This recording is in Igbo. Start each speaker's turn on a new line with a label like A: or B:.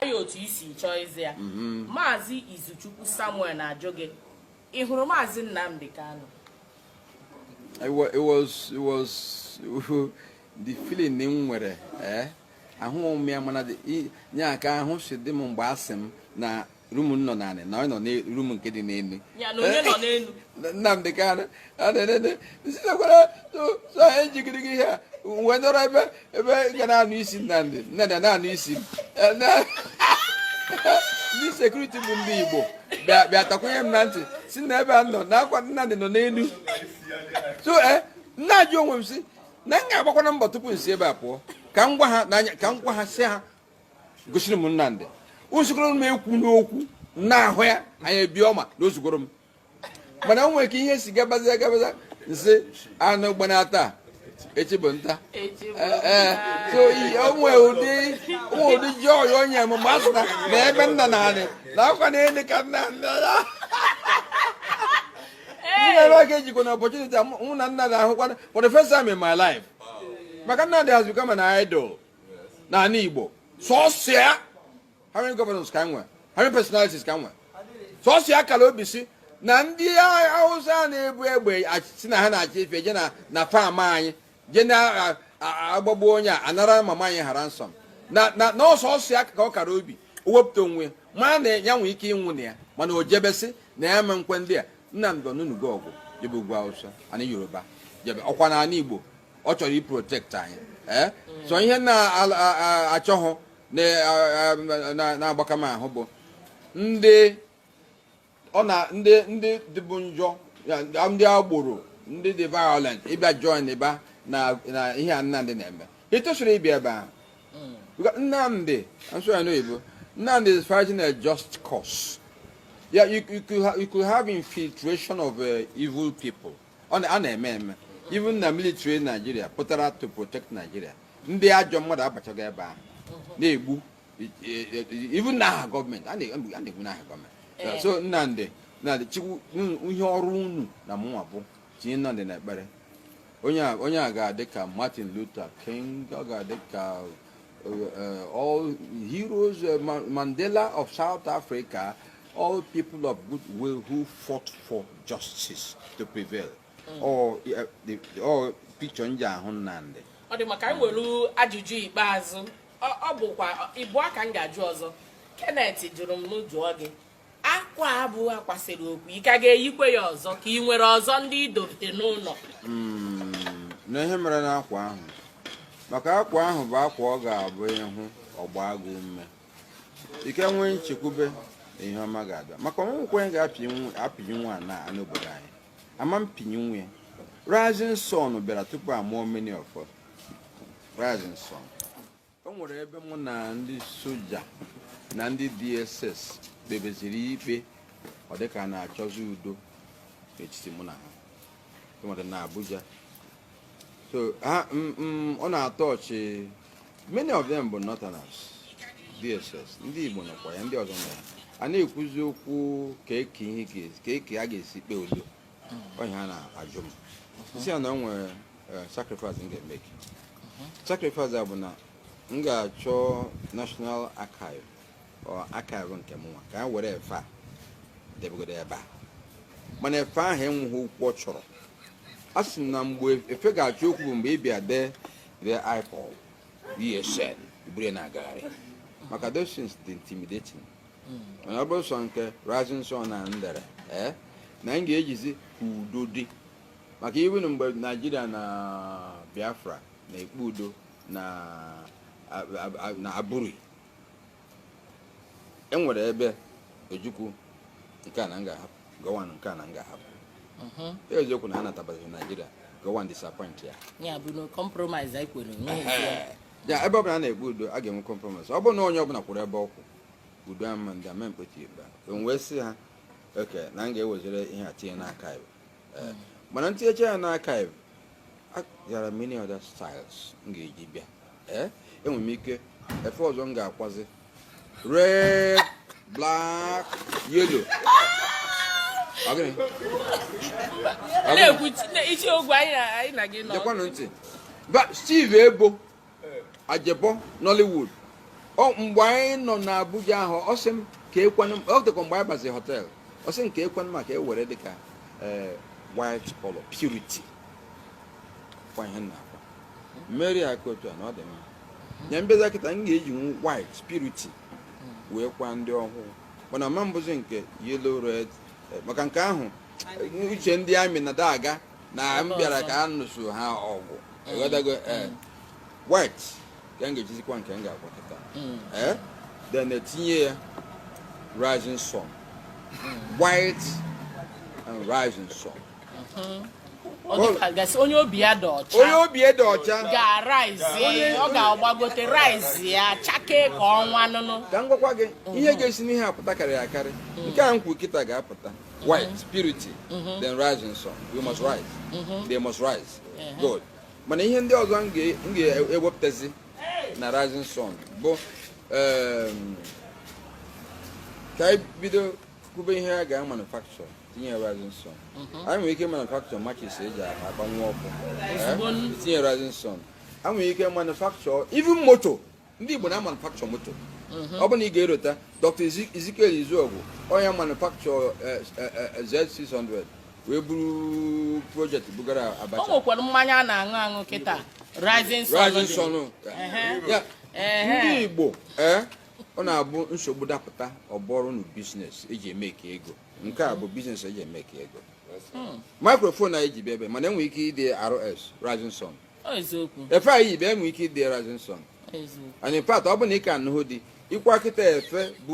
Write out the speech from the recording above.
A: ya otu i si chọọ ịza ya mhm. maazị izuchukwu samuel na-ajụ gị ị hụrụ maazị nnamdị kanu it was it was the feeling m nwere eh? ahụghị m ya mana o nwe ka ahụ si dị m mgbe a sị m na rum m nọ n'anị na onye nọ rum nke dị n'elu nnamdị kanu sitekwara so anyị jigiri gị ihe a wee nọrọ ebe ebe ga na-anụ isi nnamdị nnada na-anụ isi ndị sekuriti bụ ndị igbo bịa takwunye m na ntị sị na ebe a nọ na ọkwa nnamdị nọ n'elu so m na-ajụ onwe m sị na m ga-agbakwana mbọ tupu m si ebe a pụọ ka m gwa ha n'anya ka m gwa ha sị ha gosiri m nnamdị usikoro m ekwu n'okwu na-ahụ ya anyị ebie ọma na o zugoro m mana o nwere ka ihe si gabaza gabaza m sị anụ gbanaa taa echi bụ nta ee so o nwe ụdị ụdị joy o nye m ma a sị na ebe m nọ na anị na ọkwa na elu ka Nnamdị nọ ya ebe a ga-ejikwa na opportunity mụ na Nnamdị ahụkwa for the first time in my life maka Nnamdị has become an idol n'ala Igbo sọsọ ya how many governors ka e nwe how many personalities ka e nwe sọsọ ya kara obi sị na ndị hausa na-ebu egbe sị na ha na-achị efi je na na fam anyị je na-agbagbu onye a anara mama anyị hara nsọ na na ọ sọsọ ya kara obi o wepụta onwe ma na ya nwee ike ịnwụ na ya mana o jebe sị na ya ama ekwe ndị a nnamdị o nunugo ọgụ jebe ugwu hausa ana yoruba jebe ọkwa na ala igbo ọ chọrọ iprotekti anyị ee eh? so ihe m na-achọghị na-agbaka m ahụ bụ ndị ọ na ndị ndị dịbụ njọ ndị agboro ndị dị violent ịbịa join ịba na ihe a Nnamdị na-eme etosirọ ịbịa ebe ahụ Nnamdị m sụọ ya n'oyibo Nnamdị is fighting a just cause yeah you, you, could, ha you could have infiltration of uh, evil people a na-eme eme even na military Nigeria pụtara to protect Nigeria ndị ajọ mmadụ abachago ebe ahụ na-egbu even n'aha gọọmenti a na-egbu n'aha gọọmenti eh. so Nnamdị Nnamdị chukwu ihe ọrụ unu na mụnwa bụ tinye Nnamdị na ekpere onye a ga-adị ka Martin Luther King ọ ga-adị ka uh, uh, all heroes uh, Mandela of South Africa All people of good will who fought for justice to prevail. Mm. Ọ, uh, the, ọ picture m ji ahụ Nnamdị. Ọ dị mma ka anyị were ajụjụ ikpeazụ ọ bụkwa ịbụa ka m ga-ajụ ọzọ Kenneth jụrụ m m jụọ gị akwa a bụ akwa sere okwu ị ka ga-eyikwe ya ọzọ ka ị nwere ọzọ ndị i dobe n'ụlọ hmm, na ihe mere na akwa ahụ maka akwa ahụ bụ akwa ọ ga-abụ ị hụ ọgba agụ ume ike nwee nchekwube na ihe ọma ga-abịa maka o nweghịkwa onye ga-apịnyụnwu ya n'obodo anyị ama mpịnyụnwu ya rising sun bịara tupu amụọ many of rising sun o nwere ebe mụ na ndị soja na ndị dss kpebeziri ikpe ọ dịka a na-achọzi udo n'etiti mụ na ha enwere na abuja so ha mm, mm, ọ na-atọ ọchị many of them bụ northerners dss ndị igbo nọkwa ya ndị ọzọ nọ ya a na-ekwuzi okwu ka eke ihe ga- ka eke a ga-esi kpee udo ọ ihe ha na-ajụ m isi ya na o nwere eh, sacrifice m ga-emeki sacrifice a bụ na m ga-achọ national archive or archive nke mụnwa ka e were efe a debegodo ebe a mana efe ahụ enweghị okwu ọ chọrọ a sị na mgbe efe ga-achọ okwu bụ mgbe ị bịa dee the ipob esn i buru na-agagharị maka those things dị intimidating mana ọ bụrụ sọ nke rising sun na ndere ee eh, na m ga-ejizi ka udo dị maka even mgbe naijiria na biafra na-ekpe udo na aburi e nwere ebe ojukwu nke a na m ga-ahapụ gowon nke a na m ga-ahapụ mhm. eziokwu na ha natabazi naijiria gowon disappoint ya ya bụ na compromise anyị kwere ya ebe ọ bụla a na-ekpe udo a ga-enwe compromise ọ bụrụ na onye ọbụla kwụrụ ebe ọ kwụ udo ama ndị ama mkpeti igba wee sị ha okay na m ga-eweziri ihe a tinye na archive eh, mana m tinyecha ya na archive there are many other styles m ga-eji bịa eh, enwere m ike efe ọzọ m ga-akwazi red black yellow na-ekwu isi ogwe anyị na gị nọ. Gekwanụ ntị. Steve Eboh ajebo nollywood mgbe anyị nọ na abuja ahụ ọ sị m keekwanụ ọ dịkwa mgbe anyị bazi hotel ọ sị m keekwanụ maka e were dịka eh, white color purity kwa ihe na-akwa mmeri aka otu a na ọ dị mma nye mbeza kịta m ga-eji white purity wee kwa ndị ọhụụ mana ma mbụzi nke yellow red eh, maka nke ahụ uche ndị army na-adaga na m bịara ka a nụso ha ọgụ ewetago ee white ka m ga-ejizikwa nke m ga-agwakọta ee then etinye ya rising sun white and rising sun Ọ dịka a ga-asị onye obi ya dị ọcha onye obi dị ọcha ga-araizi ọ ga-agbagote raizi ya chakee ka ọnwa nụnụ ka m gwakwa gị ihe ga-esi n'ihe a pụta karịrị akarị nke a m kwuru kịta ga-apụta White, mm-hmm. purity, mm-hmm. then rising sun. We must rise. Mm-hmm. They must rise. Uh-huh. Good. Mana ihe ndị ọzọ m ga-ewepụtazi na rising sun bụ um, ka anyị bido kwube ihe a ga-manufacture tinye rising sun. Anyị nwere ike manufacture matches eji akpanwu ọkụ. Tinye rising sun. Anyị nwere ike manufacture even moto. ndị Igbo na-manufacture moto mhm. ọ bụ na ị ga-erota Dr. Ezekiel Izuogu onye manufacture eh, eh, eh, Z600 wee buru project bugara Abacha o nwekwara mmanya a na-aṅụ aṅụ kịta rising sun ndị Igbo ee eh, ọ na-abụ nsogbu dapụta ọ bụrụnụ business eji e-make ego nke a bụ business eji e-make ego hmm. microphone anyị ji bịa ebe mana enwere ike ide RS rising sun efe anyị yi ebe enwe ike ide rising sun and in fact ọ bụ na ị ka anụhụ ndị ịkwa kịta efe bụ